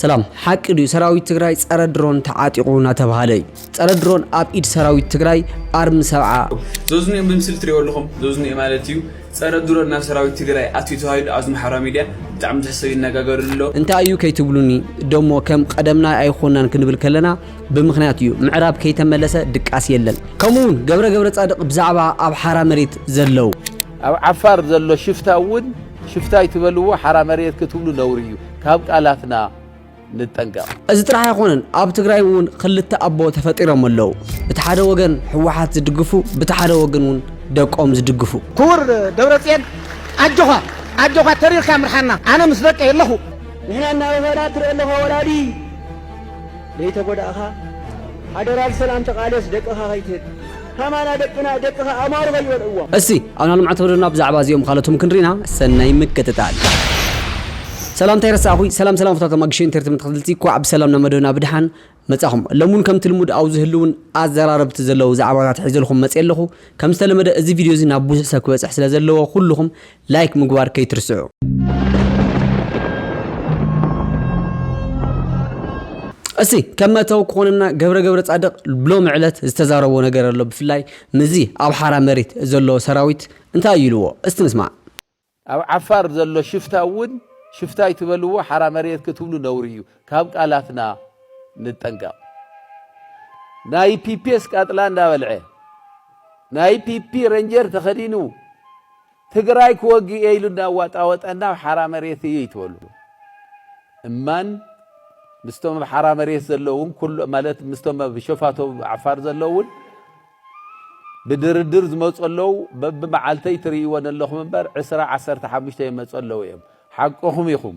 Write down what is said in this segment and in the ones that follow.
ሰላም ሓቂ ድዩ ሰራዊት ትግራይ ጸረ ድሮን ተዓጢቑ እናተባህለ እዩ ጸረ ድሮን ኣብ ኢድ ሰራዊት ትግራይ ኣርሚ ሰብዓ ዘዝንኦ ብምስሊ ትሪኦ ኣለኹም ዘዝንኦ ማለት እዩ ጸረ ድሮን ናብ ሰራዊት ትግራይ ኣትዩ ተባሂሉ ኣብዚ ማሕበራዊ ሚድያ ብጣዕሚ ብዙሕ ሰብ ይነጋገርሉ ኣሎ እንታይ እዩ ከይትብሉኒ ደሞ ከም ቀደምና ኣይኮናን ክንብል ከለና ብምክንያት እዩ ምዕራብ ከይተመለሰ ድቃስ የለን ከምኡውን ገብረ ገብረ ጻድቅ ብዛዕባ ኣብ ሓራ መሬት ዘለው ኣብ ዓፋር ዘሎ ሽፍታ እውን ሽፍታ ኣይትበልዎ ሓራ መሬት ክትብሉ ነውሪ እዩ ካብ ቃላትና ንጠንቀቅ። እዚ ጥራሕ ኣይኮነን ኣብ ትግራይ እውን ክልተ ኣቦ ተፈጢሮም ኣለው ብቲ ሓደ ወገን ህወሓት ዝድግፉ ብቲ ሓደ ወግን እውን ደቆም ዝድግፉ። ኩቡር ደብረፅየን ኣጆኻ ኣጆኻ ተሪርካ ምርሓና ኣነ ምስ ደቀይ ኣለኹ። ንሕና እናበኸና ትርኢ ኣለኻ ወላዲ ደይተጎዳእኻ ሓደራ ብሰላም ተቃለስ ደቅኻ ከይትህብ። ከማና ደቅና ደቅኻ ኣማሩ ከይበልዕዎም። እስቲ ኣብና ልምዓት ወደብና ብዛዕባ እዚኦም ኻልኦትም ክንሪና ሰናይ ምክትታል። ሰላምታ ኣይረሳዕኹይ ሰላም ሰላም ፍትዋት ኣማግሸ ኢንተርትመንት ተኸትልቲ ኳዕ ብሰላም ናብ መደብና ብድሓን መጻኹም ለሙን ከምቲ ልሙድ ኣብ ዝህልውን ኣዘራረብቲ ዘለው ዛዕባታት ሒዘልኹም መጽየ ኣለኹ ከም ዝተለመደ እዚ ቪድዮ እዚ ናብ ቡዙሕ ሰብ ክበጽሕ ስለ ዘለዎ ኩሉኹም ላይክ ምግባር ከይትርስዑ። እስቲ ከም መእተዊ ክኾነና ገብረ ገብረ ጻድቕ ሎሚ ዕለት ዝተዛረቦ ነገር ኣሎ ብፍላይ ምዚ ኣብ ሓራ መሬት ዘሎ ሰራዊት እንታይ እዩ ኢልዎ እስቲ ንስማዕ። ኣብ ዓፋር ዘሎ ሽፍታ እውን ሽፍታ ኣይትበልዎ ሓራ መሬት ክትብሉ ነውሪ እዩ ካብ ቃላትና ንጠንቀቕ። ናይ ፒፒ ኣስቃጥላ እንዳበልዐ ናይ ፒፒ ረንጀር ተኸዲኑ ትግራይ ክወግእ እየ ኢሉ እንዳዋጣወጠና ኣብ ሓራ መሬት እዩ ይትበልዎ እማን ምስቶም ኣብ ሓራ መሬት ዘለውን ማለት ምስቶም ኣብ ሸፋቶ ዓፋር ዘለውን ብድርድር ዝመፁ ኣለው በብመዓልተይ ትርእይዎ ዘለኹም እምበር ዕስራ ዓሰርተ ሓሙሽተ ይመፁ ኣለው እዮም ሓቅኹም ኢኹም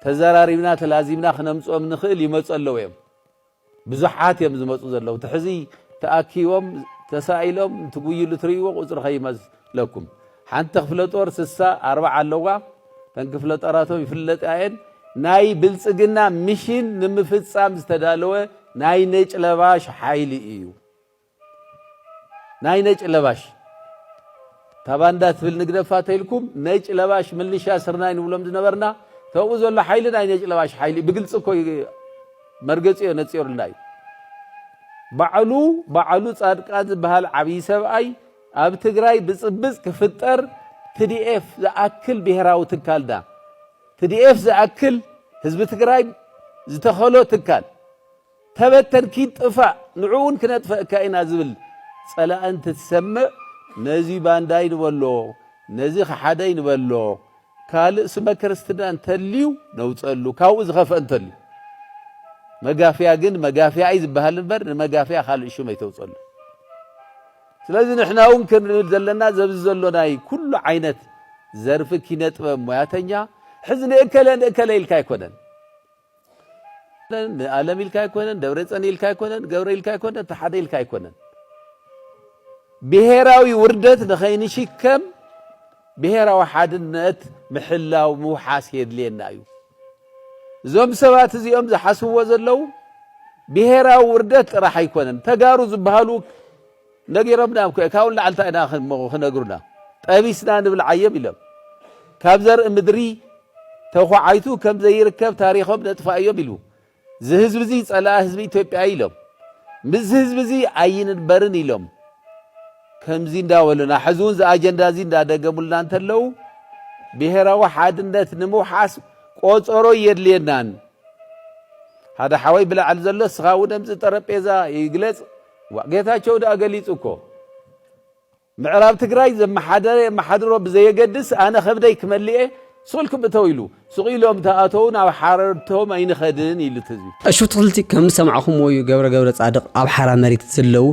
ተዘራሪብና ተላዚብና ክነምፅኦም ንኽእል ይመፁ ኣለው እዮም ብዙሓት እዮም ዝመጹ ዘለዉ እቲ ሕዚ ተኣኪቦም ተሳኢሎም እንትጉይሉ ትርእይዎ ቁጽሪ ከይመስለኩም ሓንቲ ክፍለ ጦር ስሳ ኣርባዓ ኣለዋ ተን ክፍለ ጦራቶም ይፍለጣ እየን ናይ ብልጽግና ሚሽን ንምፍጻም ዝተዳለወ ናይ ነጭለባሽ ሓይሊ እዩ ናይ ነጭ ለባሽ ታባንዳ ትብል ንግደፋ ተልኩም ነጭ ለባሽ ምልሻ ስርናይ ንብሎም ዝነበርና ተብኡ ዘሎ ሓይሊ ናይ ነጭ ለባሽ ሓይሊ ብግልፂ እኮ መርገፂዮ ነፂሩልና እዩ ባዕሉ ባዕሉ ፃድቃን ዝበሃል ዓብዪ ሰብኣይ ኣብ ትግራይ ብፅብፅ ክፍጠር ትዲኤፍ ዝኣክል ብሄራዊ ትካልና ትዲኤፍ ዝኣክል ህዝቢ ትግራይ ዝተኸሎ ትካል ተበተን ኪድ ጥፋእ ንዑኡን ክነጥፈእካ ኢና ዝብል ጸላኢ እንትትሰምዕ ነዚ ባንዳይ ንበሎ ነዚ ከሓዳይ ንበሎ ካልእ ስመ ክርስትና እንተልዩ ነውጸሉ ካብኡ ዝኸፍኣ እንተልዩ መጋፍያ ግን መጋፍያ እዩ ዝበሃል እምበር ንመጋፍያ ካልእ ሹም ኣይተውጸሉ ስለዚ ንሕና እውን ክንብል ዘለና ዘብዚ ዘሎ ናይ ኩሉ ዓይነት ዘርፊ ኪነ ጥበብ ሞያተኛ ሕዚ ንእከለ ንእከለ ኢልካ ኣይኮነን ኣለም ኢልካ ኣይኮነን ደብረፀን ኢልካ ኣይኮነን ገብረ ኢልካ ኣይኮነን እቲ ሓደ ኢልካ ኣይኮነን ብሄራዊ ውርደት ንኸይንሽከም ብሄራዊ ሓድነት ምሕላው ምውሓስ የድልየና እዩ እዞም ሰባት እዚኦም ዝሓስብዎ ዘለው ብሄራዊ ውርደት ጥራሕ ኣይኮነን ተጋሩ ዝበሃሉ ነጊሮምናም ከ ካብኡ ንላዕሊ እንታይ ኢና ክንሞ ክነግሩና ጠቢስና ንብልዓዬም ኢሎም ካብ ዘርኢ ምድሪ ተኳዓይቱ ከም ዘይርከብ ታሪኾም ነጥፋእ እዮም ኢሉ እዚ ህዝቢ እዚ ጸላኢ ህዝቢ ኢትዮጵያ እዩ ኢሎም ምስዚ ህዝቢ እዚ ኣይንንበርን ኢሎም ከምዚ እንዳበሉና ሕዚ እውን እዚ ኣጀንዳ እዚ እንዳደገሙልና እንተለው ብሄራዊ ሓድነት ንምውሓስ ቆፀሮ የድልየናን ሓደ ሓወይ ብላዕሊ ዘሎ ስኻ እውን እምዚ ጠረጴዛ ይግለፅ ዋእ ጌታቸው ድኣ ገሊፁ እኮ ምዕራብ ትግራይ ዘመሓደረ የመሓድሮ ብዘየገድስ ኣነ ከብደይ ክመልኤ ሱልኩም እተው ኢሉ ሱቕ ኢሎም ተኣተው ናብ ሓረድቶም ኣይንኸድን ኢሉ ትዝቢ እሹትክልቲ ከም ዝሰማዕኹምዎ እዩ ገብረ ገብረ ጻድቕ ኣብ ሓራ መሬት ዘለው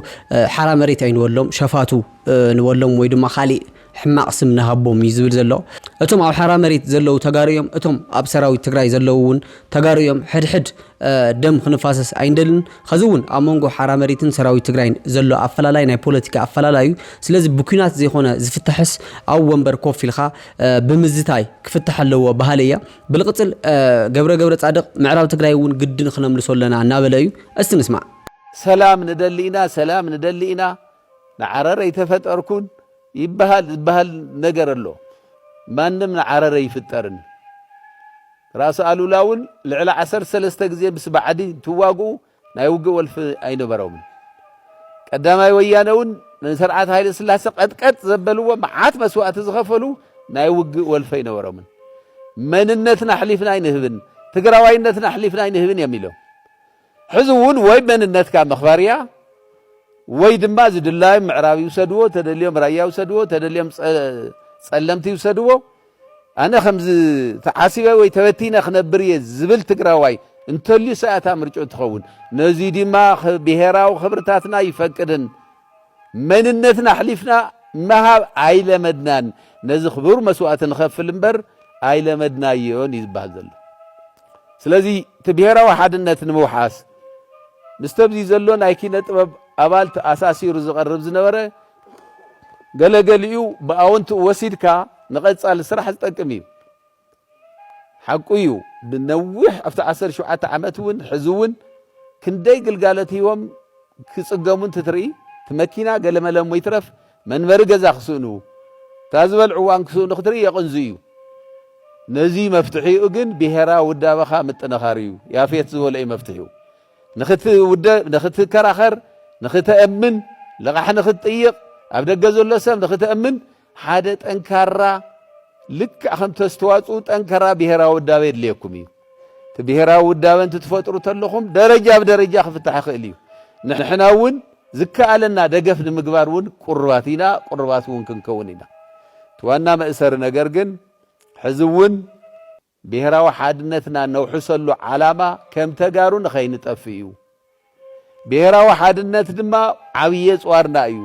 ሓራ መሬት ኣይንበሎም ሸፋቱ ንበሎም ወይ ድማ ካሊእ ሕማቅ ስም ንሃቦም እዩ ዝብል ዘሎ እቶም ኣብ ሓራ መሬት ዘለዉ ተጋሩ እዮም እቶም ኣብ ሰራዊት ትግራይ ዘለዉ እውን ተጋሩ እዮም ሕድሕድ ደም ክንፋሰስ ኣይንደልን ከዚ እውን ኣብ መንጎ ሓራ መሬትን ሰራዊት ትግራይን ዘሎ ኣፈላላይ ናይ ፖለቲካ ኣፈላላይ እዩ ስለዚ ብኩናት ዘይኮነ ዝፍታሕስ ኣብ ወንበር ኮፍ ኢልካ ብምዝታይ ክፍታሕ ኣለዎ ባህሊ እያ ብልቅፅል ገብረ ገብረ ፃድቅ ምዕራብ ትግራይ እውን ግድን ክነምልሶ ኣለና እናበለ እዩ እስቲ ንስማዕ ሰላም ንደሊ ኢና ሰላም ንደሊ ኢና ንዓረር ኣይተፈጠርኩን ይበሃል ዝበሃል ነገር ኣሎ ማንም ንዓረር ኣይፍጠርን ራስ ኣሉላ እውን ልዕሊ ዓሰርተ ሰለስተ ግዜ ምስ ባዕዲ እንትዋግኡ ናይ ውግእ ወልፊ ኣይነበሮምን ቀዳማይ ወያነ እውን ንስርዓት ሃይለ ስላሰ ቀጥቀጥ ዘበልዎ መዓት መስዋእቲ ዝኸፈሉ ናይ ውግእ ወልፈ ኣይነበሮምን። መንነትና ኣሕሊፍና ኣይንህብን፣ ትግራዋይነትና ኣሕሊፍና ኣይንህብን እዮም ኢሎም። ሕዚ እውን ወይ መንነትካ ምኽባር እያ ወይ ድማ ዝድላዮም ምዕራብ ይውሰድዎ ተደልዮም ራያ ይውሰድዎ ተደልዮም ጸለምቲ ይውሰድዎ ኣነ ከምዚ ተዓሲበ ወይ ተበቲነ ክነብር እየ ዝብል ትግራዋይ እንተልዩ ሰኣታ ምርጭኡ ትኸውን ነዚ ድማ ብሄራዊ ክብርታትና ይፈቅድን መንነትና ኣሕሊፍና ምሃብ ኣይለመድናን፣ ነዚ ክቡር መስዋእቲ ንኸፍል እምበር ኣይለመድናዮን እዩ ዝበሃል ዘሎ። ስለዚ እቲ ብሄራዊ ሓድነት ንምውሓስ ምስተብዚ ዘሎ ናይ ኪነ ጥበብ ኣባል ተኣሳሲሩ ዝቐርብ ዝነበረ ገለገሊኡ ብኣወንትኡ ወሲድካ ንቐጻሊ ስራሕ ዝጠቅም እዩ። ሓቁ እዩ ንነዊሕ ኣብቲ ዓሰርተ ሸውዓተ ዓመት እውን ሕዚ እውን ክንደይ ግልጋሎት ሂቦም ክፅገሙ እንትትርኢ እቲ መኪና ገለመለ እሞ ይትረፍ መንበሪ ገዛ ክስእኑ እታ ዝበልዕዋ እንክስእኑ ክትርኢ የቕንዙ እዩ። ነዚ መፍትሒኡ ግን ብሄራዊ ውዳበኻ ምጥንኻር እዩ። ያፌት ዝበሎ እዩ መፍትሒኡ። ንክትውደብ፣ ንክትከራኸር፣ ንክተእምን፣ ልቓሕ ንክትጥይቕ፣ ኣብ ደገ ዘሎ ሰብ ንክተእምን ሓደ ጠንካራ ልክዕ ከም ተስተዋጽኡ ጠንካራ ብሔራዊ ውዳበ የድልየኩም እዩ እቲ ብሔራዊ ውዳበ እንትትፈጥሩ ተለኹም ደረጃ ብደረጃ ክፍታሕ ይኽእል እዩ ንሕና እውን ዝከኣለና ደገፍ ንምግባር እውን ቁርባት ኢና ቁርባት እውን ክንከውን ኢና እቲ ዋና መእሰሪ ነገር ግን ሕዚ እውን ብሄራዊ ሓድነትና ነውሕሰሉ ዓላማ ከም ተጋሩ ንኸይንጠፍእ እዩ። ብሄራዊ ሓድነት ድማ ዓብዪ የፅዋርና እዩ።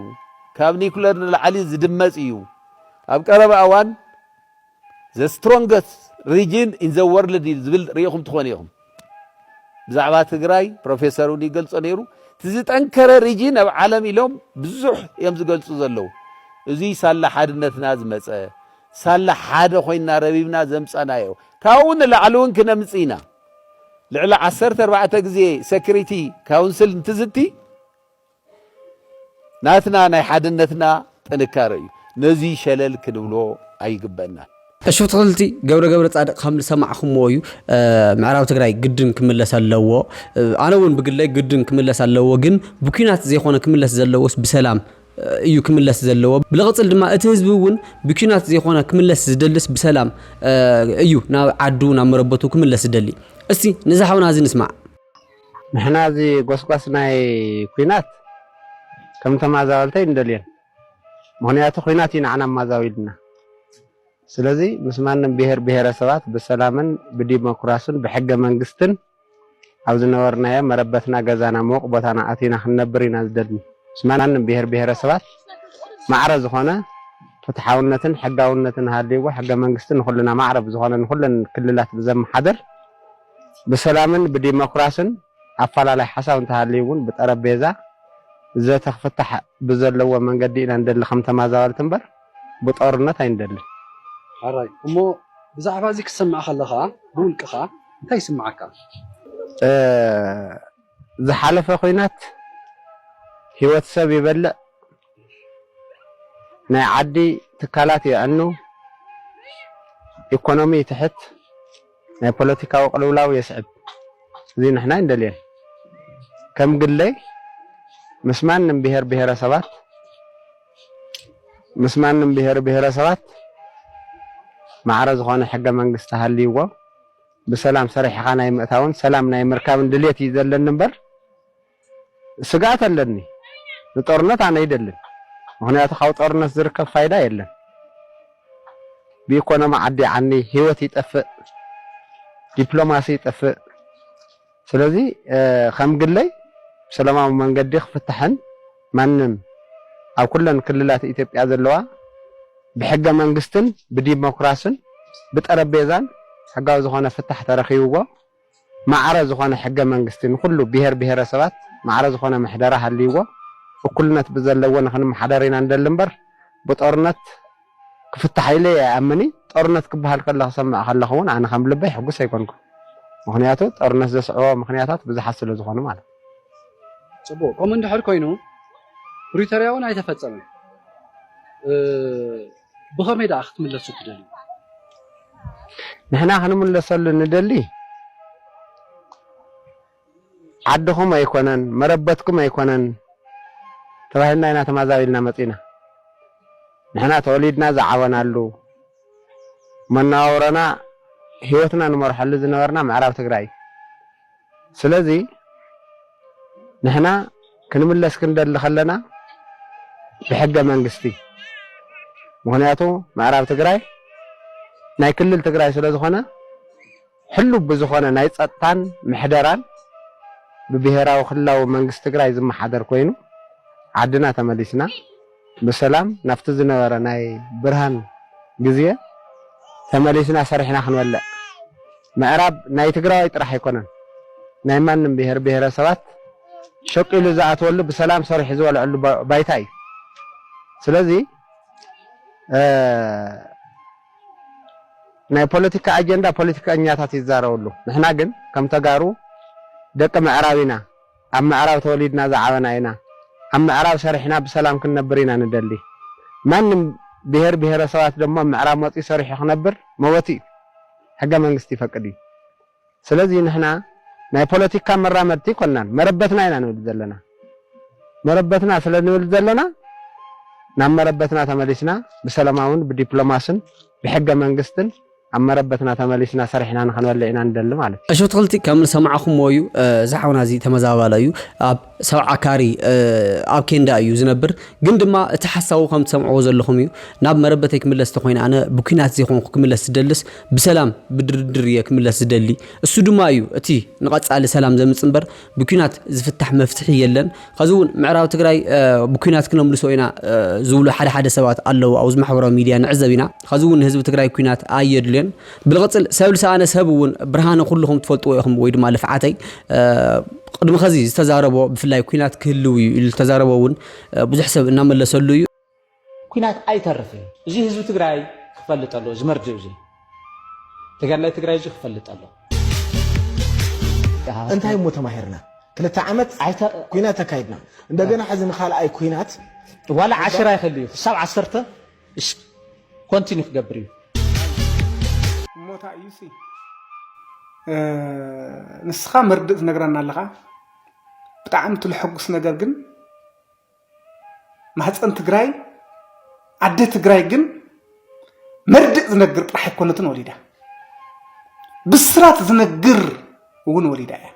ካብ ኒኩለር ንላዕሊ ዝድመፅ እዩ። ኣብ ቀረባ እዋን ዘ ስትሮንገስት ሪጅን ኢን ዘ ወርልድ ዝብል ሪኢኹም ትኾኑ ኢኹም። ብዛዕባ ትግራይ ፕሮፌሰር እውን ይገልጾ ነይሩ እቲ ዝጠንከረ ሪጅን ኣብ ዓለም ኢሎም ብዙሕ እዮም ዝገልጹ ዘለዉ እዙይ ሳላ ሓድነትና ዝመፀ ሳላ ሓደ ኮይንና ረቢብና ዘምፀናዮ ካብኡ ንላዕሊ እውን ክነምፅ ኢና ልዕሊ ዓሰርተ ኣርባዕተ ግዜ ሰክሪቲ ካውንስል እንትዝቲ ናትና ናይ ሓድነትና ጥንካረ እዩ ነዙይ ሸለል ክንብሎ ኣይግበእናን። እሹፍ ተክልቲ ገብረ ገብረፃድቅ ከም ዝሰማዕኹምዎ እዩ ምዕራብ ትግራይ ግድን ክምለስ ኣለዎ ኣነ እውን ብግለይ ግድን ክምለስ ኣለዎ ግን ብኲናት ዘይኾነ ክምለስ ዘለዎስ ብሰላም እዩ ክምለስ ዘለዎ ብልቕፅል ድማ እቲ ህዝቢ እውን ብኲናት ዘይኾነ ክምለስ ዝደልስ ብሰላም እዩ ናብ ዓዱ ናብ መረበቱ ክምለስ ዝደሊ እስቲ ንዛሓውና እዚ ንስማዕ ንሕና እዚ ጎስጓስ ናይ ኩናት ከም ተማዛበልቲ ኣይንደልዮን ምኽንያቱ ኩናት እዩ ንዓና ኣማዛቢሉና ስለዚ ምስ ማንም ብሄር ብሄረሰባት ብሰላምን ብዲሞክራሱን ብሕገ መንግስትን ኣብ ዝነበርናዮ መረበትና ገዛና ምውቕ ቦታና ኣቲና ክንነብር ኢና ዝደልኒ ምስ ማንም ብሄር ብሄረሰባት ማዕረ ዝኾነ ፍትሓውነትን ሕጋውነትን ሃልይዎ ሕገ መንግስቲ ንኹልና ማዕረ ብዝኾነ ንኹለን ክልላት ብዘመሓድር ብሰላምን ብዲሞክራስን ኣፈላላይ ሓሳብ እንተሃልዩ እውን ብጠረጴዛ ዘተ ክፍታሕ ብዘለዎ መንገዲ ኢና ንደሊ ከም ተማዛበልቲ እምበር ብጦርነት ኣይንደልን። ሕራይ እሞ ብዛዕባ እዚ ክትሰምዕ ከለኻ ብውልቅኻ እንታይ ይስምዓካ? ዝሓለፈ ኹናት ሂወት ሰብ ይበልዕ፣ ናይ ዓዲ ትካላት የዕኑ፣ ኢኮኖሚ ይትሕት፣ ናይ ፖለቲካዊ ቅልውላው የስዕብ። እዚ ንሕና ኣይንደልዮን። ከም ግለይ ምስ ማንም ብሄር ብሄረሰባት ምስ ማንም ብሄር ብሄረሰባት ማዕረ ዝኾነ ሕገ መንግስቲ ሃልይዎ ብሰላም ሰሪሕኻ ናይ ምእታውን ሰላም ናይ ምርካብን ድሌት እዩ ዘለኒ እምበር ስግኣት ኣለኒ ንጦርነት ኣነ ኣይደልን ምክንያቱ ካብ ጦርነት ዝርከብ ፋይዳ የለን ብኢኮኖሚ ዓዲ ዓኒ ሂወት ይጠፍእ ዲፕሎማሲ ይጠፍእ ስለዚ ከም ግለይ ብሰላማዊ መንገዲ ክፍታሕን ማንም ኣብ ኩለን ክልላት ኢትዮጵያ ዘለዋ ብሕገ መንግስትን ብዲሞክራስን ብጠረጴዛን ሕጋዊ ዝኾነ ፍታሕ ተረኺብዎ ማዕረ ዝኾነ ሕገ መንግስቲ፣ ንኹሉ ብሄር ብሄረሰባት ማዕረ ዝኾነ ምሕደራ ሃልይዎ እኩልነት ብዘለዎ ንኽንመሓደር ኢና ንደሊ እምበር ብጦርነት ክፍታሕ ኢለ ኣይኣምን እይ። ጦርነት ክበሃል ከሎ ክሰምዕ ከለኹ እውን ኣነ ከም ልበይ ሕጉስ ኣይኮንኩን። ምኽንያቱ ጦርነት ዘስዕቦ ምኽንያታት ብዙሓት ስለ ዝኾኑ ማለት እዩ። ፅቡቕ ከምኡ እንድሕር ኮይኑ ፕሪቶርያ እውን ኣይተፈፀመን። ብኸመይ ደኣ ክትምለሱ ትደልዩ? ንሕና ክንምለሰሉ ንደሊ ዓድኹም ኣይኮነን መረበትኩም ኣይኮነን ተባሂልና ኢና ተማዛቢልና መጺእና። ንሕና ተወሊድና ዝዓበናሉ፣ መነባብሮና ህይወትና ንመርሐሉ ዝነበርና ምዕራብ ትግራይ እዩ። ስለዚ ንሕና ክንምለስ ክንደሊ ከለና ብሕገ መንግስቲ ምክንያቱ ምዕራብ ትግራይ ናይ ክልል ትግራይ ስለ ዝኾነ ሕሉብ ብዝኾነ ናይ ፀጥታን ምሕደራን ብብሄራዊ ክልላዊ መንግስቲ ትግራይ ዝመሓደር ኮይኑ ዓድና ተመሊስና ብሰላም ናብቲ ዝነበረ ናይ ብርሃን ግዜ ተመሊስና ሰሪሕና ክንበልዕ ምዕራብ ናይ ትግራዋይ ጥራሕ ኣይኮነን ናይ ማንም ብሄር ብሄረሰባት ሸቂሉ ዝኣትወሉ ብሰላም ሰሪሑ ዝበልዐሉ ባይታ እዩ ስለዚ ናይ ፖለቲካ ኣጀንዳ ፖለቲከኛታት ይዛረብሉ ንሕና ግን ከም ተጋሩ ደቂ ምዕራብ ኢና ኣብ ምዕራብ ተወሊድና ዝዓበና ኢና ኣብ ምዕራብ ሰሪሕና ብሰላም ክንነብር ኢና ንደሊ ማንም ብሄር ብሄረሰባት ደሞ ኣብ ምዕራብ መፅዩ ሰሪሑ ክነብር መወቲ እዩ ሕገ መንግስቲ ይፈቅድ እዩ ስለዚ ንሕና ናይ ፖለቲካ መራመድቲ ኣይኮናን መረበትና ኢና ንብል ዘለና መረበትና ስለ ንብል ዘለና ናብ መረበትና ተመሊስና ብሰለማውን ብዲፕሎማስን ብሕገ መንግስትን ኣብ መረበትና ተመሊስና ሰሪሕና ንክንበልዕ ኢና ንደሊ ማለት እዩ። እሺ ብትክልቲ ከም ዝሰማዕኹምዎ እዩ እዚ ሓውና እዚ ተመዛባላይ እዩ ኣብ ሰብዓ ካሪ ኣብ ኬንዳ እዩ ዝነብር ግን ድማ እቲ ሓሳቡ ከም ትሰምዕዎ ዘለኹም እዩ ናብ መረበተይ ክምለስ ተኮይነ ኣነ ብኩናት ዘይኮንኩ ክምለስ ዝደልስ ብሰላም ብድርድር እየ ክምለስ ዝደሊ እሱ ድማ እዩ እቲ ንቀጻሊ ሰላም ዘምጽ እምበር ብኲናት ዝፍታሕ መፍትሒ የለን። ኸዚ እውን ምዕራብ ትግራይ ብኲናት ክነምልሶ ኢና ዝብሉ ሓደ ሓደ ሰባት ኣለዉ ኣብዚ ማሕበራዊ ሚድያ ንዕዘብ ኢና። ኸዚ እውን ንህዝቢ ትግራይ ኲናት ኣየድልዮን። ብልቕፅል ሰብ ልሰኣነ ሰብ እውን ብርሃነ ኩልኹም ትፈልጥዎ ኢኹም ወይ ድማ ልፍዓተይ ቕድሚ ኸዚ ዝተዛረቦ ብፍላይ ኲናት ክህልው እዩ ኢሉ ዝተዛረቦ እውን ብዙሕ ሰብ እናመለሰሉ እዩ። ኩናት ኣይተርፍን እዚ ህዝቢ ትግራይ ክፈልጥ ኣለዎ እዚ መርድእ እዚ ተጋዳላይ ትግራይ እዚ ክፈልጥ ኣለዎ እንታይ እሞ ተማሂርና ክልተ ዓመት ኩናት ኣካይድና እንደገና ሕዚ ንካልኣይ ኩናት ዋላ ዓሽራ ይኸል እዩ ክሳብ ዓሰርተ ኮንቲኒ ክገብር እዩ እሞታ እዩ ንስኻ መርድእ ትነግረና ኣለኻ ብጣዕሚ ትልሐጉስ ነገር ግን ማህፀን ትግራይ ኣደ ትግራይ ግን መርድእ ዝነግር ጥራሕ ኣይኮነትን ወሊዳ ብስራት ዝነግር እውን ወሊዳ እያ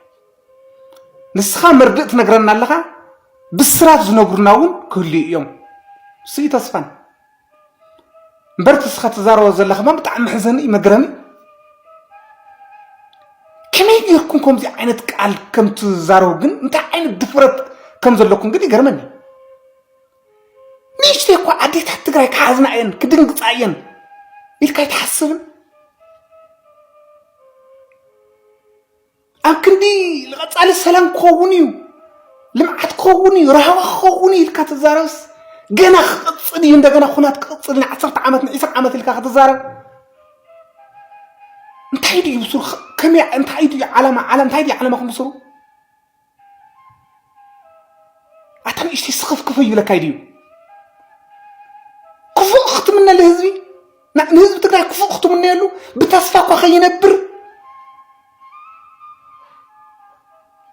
ንስኻ መርድእ ትነግረና ኣለኻ ብስራት ዝነግሩና እውን ክህልዩ እዮም ስዩ ተስፋን እምበር እቲ እስኻ ትዛረቦ ዘለኻ እማ ብጣዕሚ መሕዘኒ እዩ መግረሚ ከመይ ጌርኩም ከምዚ ዓይነት ቃል ከም ትዛረቡ ግን እንታይ ዓይነት ድፍረት ከም ዘለኩም ግን ይገርመኒ ንእሽተይ እኳ ኣዴታት ትግራይ ክሓዝና እየን ክድንግፃ እየን ኢልካ ኣይትሓስብን ኣብ ክንዲ ንቐፃሊ ሰላም ክኸውን እዩ ልምዓት ክኸውን እዩ ራህዋ ክኸውን እዩ ኢልካ ትዛረብስ ገና ክቕፅል እዩ እንደገና ኩናት ክቕፅል ንዓሰርተ ዓመት ንዒስራ ዓመት ኢልካ ክትዛረብ እንታይ ድዩ ብስሩ ከመይ እንታይ ድዩ ዓላማ ዓለም እንታይ ድዩ ዓለማኹም ብስሩ ኣታ ንእሽተይ ስኽፍክፍ ይብለካ ድዩ ክፉእ ክትምነ ልህዝቢ ንህዝቢ ትግራይ ክፉእ ክትምነየሉ ብተስፋ እኳ ከይነብር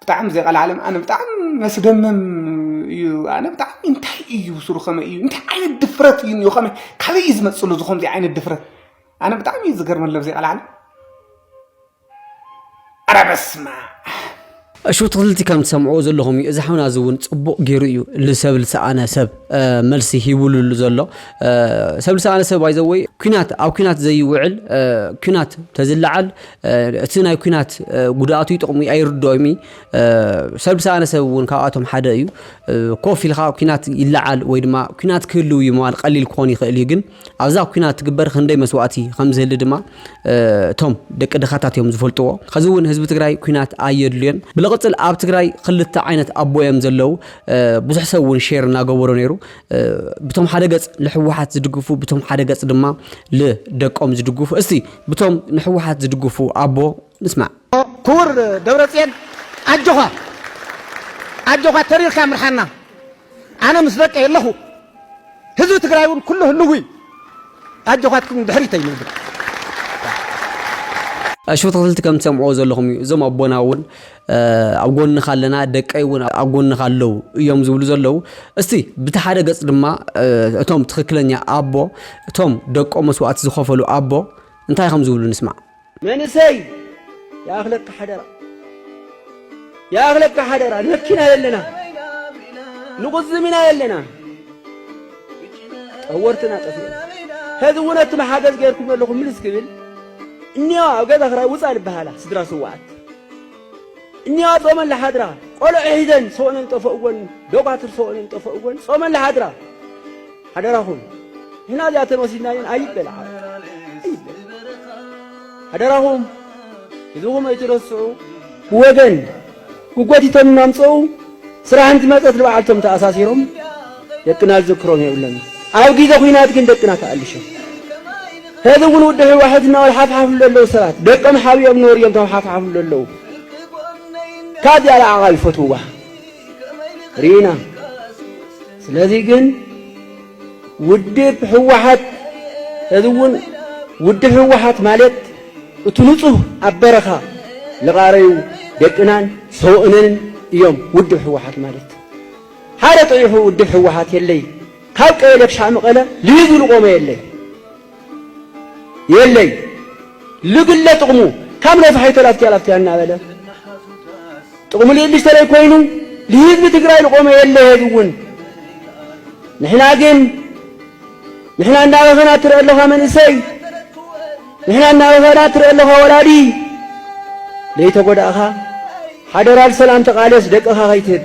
ብጣዕሚ ዘቀላዓለም ኣነ ብጣዕሚ መስደመም እዩ ኣነ ብጣዕሚ እንታይ እዩ ስሩ ከመይ እዩ እንታይ ዓይነት ድፍረት እዩ እኒኦ ከመይ ካበይ እዩ ዝመፅሉ እዚ ከምዚ ዓይነት ድፍረት ኣነ ብጣዕሚ እዩ ዝገርመለብ ዘይቀላዓለም ኣረ በስመኣብ። እሹ ትክልቲ ከም ትሰምዕዎ ዘለኹም እዩ እዚ ሓውና እዚ እውን ጽቡቅ ገይሩ እዩ ንሰብ ልሰኣነ ሰብ መልሲ ሂቡሉ ዘሎ ሰብ ልሰኣነ ሰብ ኣይዘወይ ኩናት ኣብ ኩናት ዘይውዕል ኩናት ተዝለዓል እቲ ናይ ኩናት ጉድኣቱ ይጥቕሙ ኣይርድኦም እዩ ሰብ ልሰኣነ ሰብ እውን ካብኣቶም ሓደ እዩ ኮፍ ኢልካ ኩናት ይለዓል ወይ ድማ ኩናት ክህልው እዩ መዋል ቀሊል ክኾን ይኽእል እዩ ግን ኣብዛ ኩናት ትግበር ክንደይ መስዋእቲ ከምዝህሊ ድማ እቶም ደቂ ድኻታት እዮም ዝፈልጥዎ። ኸዚ እውን ህዝቢ ትግራይ ኩናት ኣየድልዮን። ብልቕፅል ኣብ ትግራይ ክልተ ዓይነት ኣቦ እዮም ዘለው። ብዙሕ ሰብ እውን ሼር እናገበሮ ነይሩ። ብቶም ሓደ ገፅ ንሕወሓት ዝድግፉ ብቶም ሓደ ገፅ ድማ ልደቆም ዝድግፉ። እስቲ ብቶም ንሕወሓት ዝድግፉ ኣቦ ንስማዕ። ክቡር ደብረፅየን ኣጆዃ ኣጆዃ ተሪርካ ምርሓና ኣነ ምስ ደቀይ ኣለኹ ህዝቢ ትግራይ እውን ኩሉ ህልው እዩ ኣጆዃትኩም ንድሕሪት ኣይንብል። እሺ ብትኽክልቲ ከም ትሰምዕዎ ዘለኹም እዩ እዞም ኣቦና እውን ኣብ ጎንኻ ኣለና ደቀይ እውን ኣብ ጎንኻ ኣለው እዮም ዝብሉ ዘለው እስቲ ብቲ ሓደ ገፅ ድማ እቶም ትኽክለኛ ኣቦ እቶም ደቆም መስዋእቲ ዝኸፈሉ ኣቦ እንታይ ከም ዝብሉ ንስማዕ መንእሰይ ይኣኽለካ ሓደራ ይኣኽለካ ሓደራ ነኪና የለና ንቑዝም ኢና የለና ጠወርትና ጠፊኡ ሕዚ እውን እቲ መሓገዝ ገይርኩም ኣለኹም ምልስ ክብል እኒዋ ኣብ ገዛ ክራይ ውፃ ዝበሃላ ስድራ ስዋኣት እኒዋ ጾመን ለሓድራ ቆልዑ ሒዘን ሰኦነን ጠፈእወን ደኳትር ሰኦነን ጠፈእወን ጾመን ለሓድራ ሓደራኹም ንሕና እዚኣተን ወሲድና እየን ኣይበል ዓርኩ ኣይበል ሓደራኹም ህዝብኹም ኣይትረስዑ ብወገን ክጎቲቶም እናምፀኡ ስራሕ እንትመፀት ንበዓልቶም ተኣሳሲሮም ደቅና ዝዝክሮም የብሎምን ኣብ ግዜ ኩናት ግን ደቅና ተኣልሾም ሕዚ እውን ውዲ ህወሓት እናበል ሓፍሓፍ ዘለዉ ሰባት ደቆም ሓብኦም ኖር እዮም ካብ ሓፍሓፍ ዘለዉ ካብ ዚኣ ለዓቓ ይፈትውዋ ርኢና ስለዚ ግን ውድብ ህወሓት እዚ እውን ውድብ ህወሓት ማለት እቲ ንጹህ ኣብ በረኻ ልቓረዩ ደቅናን ሰውእነንን እዮም ውድብ ህወሓት ማለት ሓደ ጥሪሑ ውድብ ህወሓት የለይ ካብ ቀየደብሻ መቐለ ልዩ ዝልቆመ የለይ የለይ ልግለ ጥቕሙ ካብ ነፋሒቶ ላፍቲያ ላፍቲያ እናበለ ጥቕሙ ልእልሽ ተለይ ኮይኑ ልህዝቢ ትግራይ ልቆመ የለ ሄዚ እውን ንሕና ግን ንሕና እናበኸና ትርአ ኣለኻ መንእሰይ ንሕና እናበኸና ትርአ ኣለኻ ወላዲ ለይተጎዳእኻ ሓደራ ልሰላም ተቓለስ ደቅኻ ከይትህብ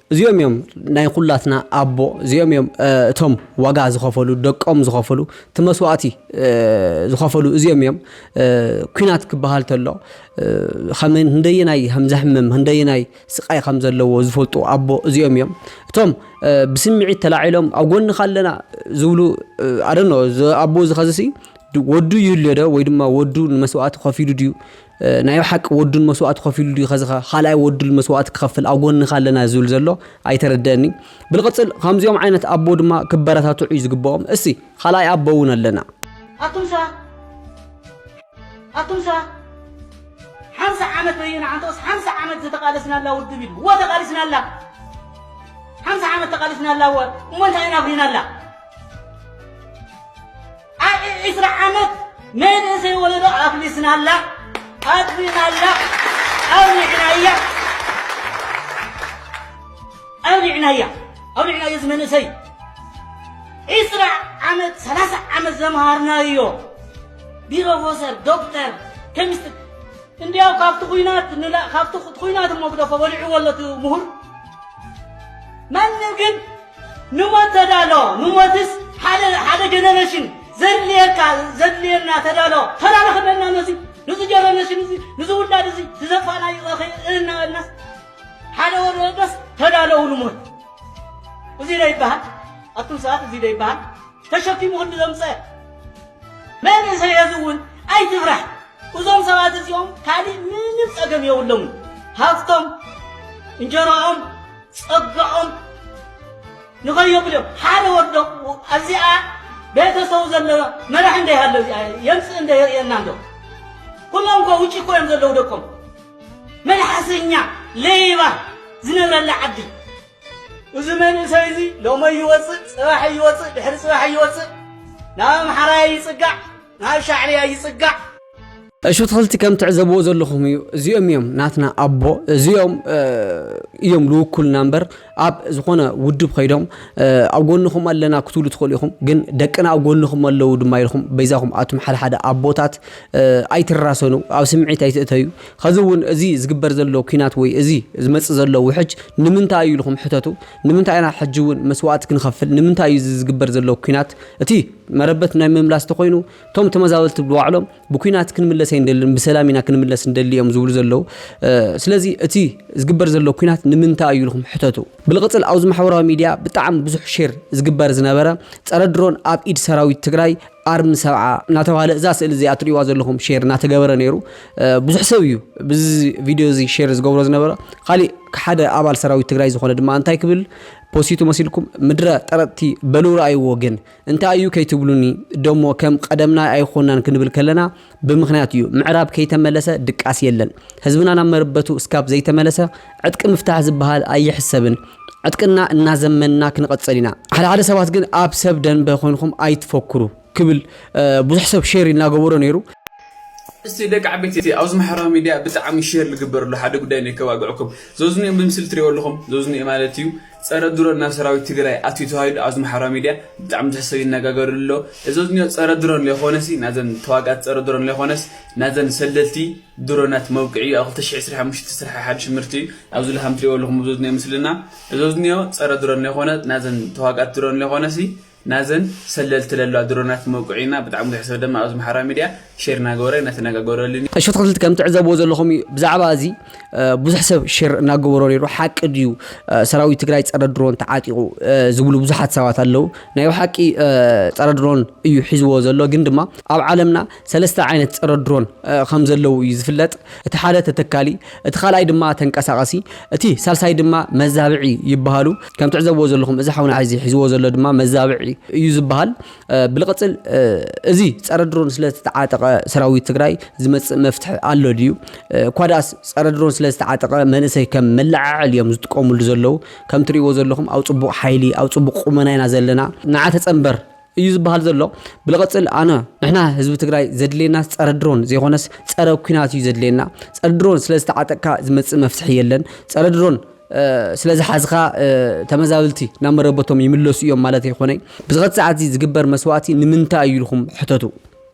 እዚኦም እዮም ናይ ኩላትና ኣቦ እዚኦም እዮም እቶም ዋጋ ዝኸፈሉ ደቆም ዝኸፈሉ እቲ መስዋእቲ ዝኸፈሉ እዚኦም እዮም ኩናት ክበሃል ተሎ ከም ህንደየናይ ከም ዘሕምም ህንደየናይ ስቃይ ከም ዘለዎ ዝፈልጡ ኣቦ እዚኦም እዮም እቶም ብስምዒት ተላዒሎም ኣብ ጎንኻ ኣለና ዝብሉ ኣደኖ ኣቦ ዝኸዝሲ ወዱ ይልዮ ዶ ወይ ድማ ወዱ ንመስዋእቲ ከፊሉ ድዩ ናይ ብሓቂ ወዱን መስዋእቲ ከፊሉ ድዩ ከዚ ካልኣይ ወዱል መስዋእቲ ክኸፍል ኣብ ጎንኻ ኣለና ዝብል ዘሎ ኣይተረደእኒ ብልቕፅል ከምዚኦም ዓይነት ኣቦ ድማ ክበረታትዑ እዩ ዝግብኦም እሲ ካልኣይ ኣቦ እውን ኣለና ኣቱምሳ ኣቱምሳ ሓምሳ ዓመት በይና ዓንተስ ሓምሳ ዓመት ዝተቃለስናላ ውድብ ኢሉ ወ ተቃሊስናላ ሓምሳ ዓመት ተቃሊስናላ ወ እሞ እንታይ ኢና ኣፍሪናላ ዓዒ ዕስራ ዓመት መንእሰይ ወለዶ ኣፍሊስናላ ኣጥፊእናላ ኣውሊዕናያ ኣውሊዕናያ ኣውሊዕናዮ እዚ መንእሰይ ዕስራ ዓመት ሰላሳ ዓመት ዘምሃርናዮ ቢሮፎሰር ዶክተር ኬሚስትሪ እንዲያው ካብቲ ኩናት ካብቲ ኩናት እሞ ግደፎ በሊዕዎ ኣሎ እቲ ምሁር ማንም ግን ንሞት ተዳሎ ንሞትስ ሓደ ሓደ ጀነረሽን ዘድልየካ ዘድልየና ተዳሎ ተዳሎ ክበልና ነዚ ንዚ ጀነረሽን እዚ ንዚ ውላድ እዚ ዝዘጥፋናዮ እኺ እናበልናስ ሓደ ወዲ ወዶስ ተዳለው ንሞት እዚ ዶ ይበሃል ኣቱም ሰባት እዚ ዶ ይበሃል ተሸኪሙ ክንዲ ዘምፀ መንእሰይ እዚ እውን ኣይትፍራሕ እዞም ሰባት እዚኦም ካሊእ ምንም ፀገም የብሎምን ሃፍቶም እንጀራኦም ጸጋኦም ንኸዮብሎም ሓደ ወዶ ኣዚኣ ቤተሰቡ ዘለዎ መራሒ እንደ ያለው የምጽእ እንደ የርእየና እንዶ ኩሎም እኮ ውጭ እኮ እዮም ዘለዉ ደቆም መልሓሰኛ ለይባ ዝነብረላ ዓዲ እዚ መንእሰይ እዚ ሎመይ ይወፅእ ፅባሕ ይወፅእ ድሕሪ ፅባሕ ይወፅእ ናብ ኣምሓራይ ይፅጋዕ ናብ ሻዕብያ ይጽጋዕ። እሹ ትክልቲ ከም ትዕዘብዎ ዘለኹም እዩ እዚኦም እዮም ናትና ኣቦ እዚኦም እዮም ልውኩልና እምበር ኣብ ዝኾነ ውድብ ከይዶም ኣብ ጎንኹም ኣለና ክትብሉ ትኽእሉ ኢኹም ግን ደቅና ኣብ ጎንኹም ኣለዉ ድማ ኢልኹም በይዛኹም ኣቱም ሓደ ሓደ ኣቦታት ኣይትራሰኑ ኣብ ስምዒት ኣይትእተዩ ከዚ እውን እዚ ዝግበር ዘሎ ኩናት ወይ እዚ ዝመፅእ ዘሎ ውሕጅ ንምንታይ እዩ ኢልኹም ሕተቱ ንምንታይ ኢና ሕጂ እውን መስዋእቲ ክንኸፍል? ንምንታይ እዩ እዚ ዝግበር ዘሎ ኲናት እቲ መረበት ናይ ምምላስ ተኾይኑ እቶም ተመዛበልቲ ብባዕሎም ብኲናት ክንምለስ ኣይንደልን ብሰላም ኢና ክንምለስ ንደሊ እዮም ዝብሉ ዘለዉ። ስለዚ እቲ ዝግበር ዘሎ ኲናት ንምንታይ እዩ ኢልኩም ሕተቱ። ብልቕፅል ኣብዚ ማሕበራዊ ሚድያ ብጣዕሚ ብዙሕ ሼር ዝግበር ዝነበረ ፀረ ድሮን ኣብ ኢድ ሰራዊት ትግራይ ኣርሚ ሰብዓ እናተባህለ እዛ ስእሊ እዚኣ ትሪእዋ ዘለኹም ሼር እናተገበረ ነይሩ ብዙሕ ሰብ እዩ ብዚ ቪድዮ እዚ ሼር ዝገብሮ ዝነበረ ካሊእ ሓደ ኣባል ሰራዊት ትግራይ ዝኾነ ድማ እንታይ ክብል ፖሲቱ መሲልኩም ምድረ ጠረጥቲ በሉ ረኣይዎ ግን እንታይ እዩ ከይትብሉኒ ደሞ ከም ቀደምና ኣይኮናን ክንብል ከለና ብምኽንያት እዩ ምዕራብ ከይተመለሰ ድቃስ የለን ህዝብና ናብ መርበቱ እስካብ ዘይተመለሰ ዕጥቂ ምፍታሕ ዝብሃል ኣይሕሰብን ዕጥቅና እናዘመንና ክንቐፅል ኢና። ሓደ ሓደ ሰባት ግን ኣብ ሰብ ደንበ ኮይንኹም ኣይትፈኩሩ ክብል ብዙሕ ሰብ ሼር እናገበሮ ነይሩ። እስቲ ደቂ ዓበይቲ ኣብዚ ማሕበራዊ ሚድያ ብጣዕሚ ሼር ልግበረሉ ሓደ ጉዳይ ነከባግዕኩም። ዘዝንኦም ብምስሊ ትሪእዎ ኣለኹም፣ ዘዝንኦ ማለት እዩ። ጸረ ድሮን ናብ ሰራዊት ትግራይ ኣትዩ ተባሂሉ ኣብዚ ማሕበራዊ ሚድያ ብጣዕሚ ብዙሕ ሰብ ይነጋገርሉ ኣሎ። እዚ ኣብዚ ዝኒኦ ጸረ ድሮን ለይኾነሲ ናዘን ተዋጋእቲ ጸረ ድሮን ለይኾነስ ናዘን ሰለልቲ ድሮናት መብቅዒኡ ኣብ ክልተ ሽሕ ዕስራን ሓሙሽተን ዝተሰርሐ ሓዱሽ ምህርቲ እዩ። ኣብዚ ላሃም ትሪእዎ ኣለኹም ኣብዚ ዝኒኦ ምስልና እዚ ኣብዚ ዝኒኦ ጸረ ድሮን ለይኾነ ናዘን ተዋጋእቲ ድሮን ለይኾነሲ ናዘን ሰለልቲ ለለዋ ድሮናት መውቅዒ እና ብጣዕሚ ብዙሕ ሰብ ደማ ኣብዚ ማሕበራዊ ሚድያ ሼር እናገበሮ እናተነጋገረሉን እዩ። እሾት ኣትክልቲ ከም ትዕዘብዎ ዘለኹም እዩ ብዛዕባ እዚ ብዙሕ ሰብ ሼር እናገበሮ ነይሩ ሓቂ ድዩ ሰራዊት ትግራይ ፀረ ድሮን ተዓጢቑ ዝብሉ ብዙሓት ሰባት ኣለው ናይ ብሓቂ ፀረ ድሮን እዩ ሒዝዎ ዘሎ ግን ድማ ኣብ ዓለምና ሰለስተ ዓይነት ጸረ ድሮን ከም ዘለዉ እዩ ዝፍለጥ፣ እቲ ሓደ ተተካሊ፣ እቲ ካልኣይ ድማ ተንቀሳቓሲ፣ እቲ ሳልሳይ ድማ መዛብዒ ይበሃሉ። ከም ትዕዘብዎ ዘለኹም እዚ ሓውና ሕዚ ሒዝዎ ዘሎ ድማ መዛብዒ እዩ ዝበሃል። ብልቕጽል እዚ ጸረ ድሮን ስለ ዝተዓጠቐ ሰራዊት ትግራይ ዝመጽእ መፍትሒ ኣሎ ድዩ? እኳ ደኣስ ጸረ ድሮን ስለ ዝተዓጠቐ መንእሰይ ከም መለዓዓሊ እዮም ዝጥቀምሉ ዘለዉ። ከም ትርእይዎ ዘለኹም ኣብ ጽቡቕ ሓይሊ፣ ኣብ ጽቡቕ ቁመና ኢና ዘለና። ንዓ ተጸንበር! እዩ ዝበሃል ዘሎ ብልቕፅል ኣነ ንሕና ህዝቢ ትግራይ ዘድልየናስ ፀረ ድሮን ዘይኮነስ ፀረ ኩናት እዩ ዘድልየና ፀረ ድሮን ስለ ዝተዓጠቅካ ዝመፅእ መፍትሒ የለን ፀረ ድሮን ስለ ዝሓዝኻ ተመዛብልቲ ናብ መረበቶም ይምለሱ እዮም ማለት ኣይኮነይ ብዝኸት ሰዓት እዚ ዝግበር መስዋእቲ ንምንታይ እዩ ኢልኩም ሕተቱ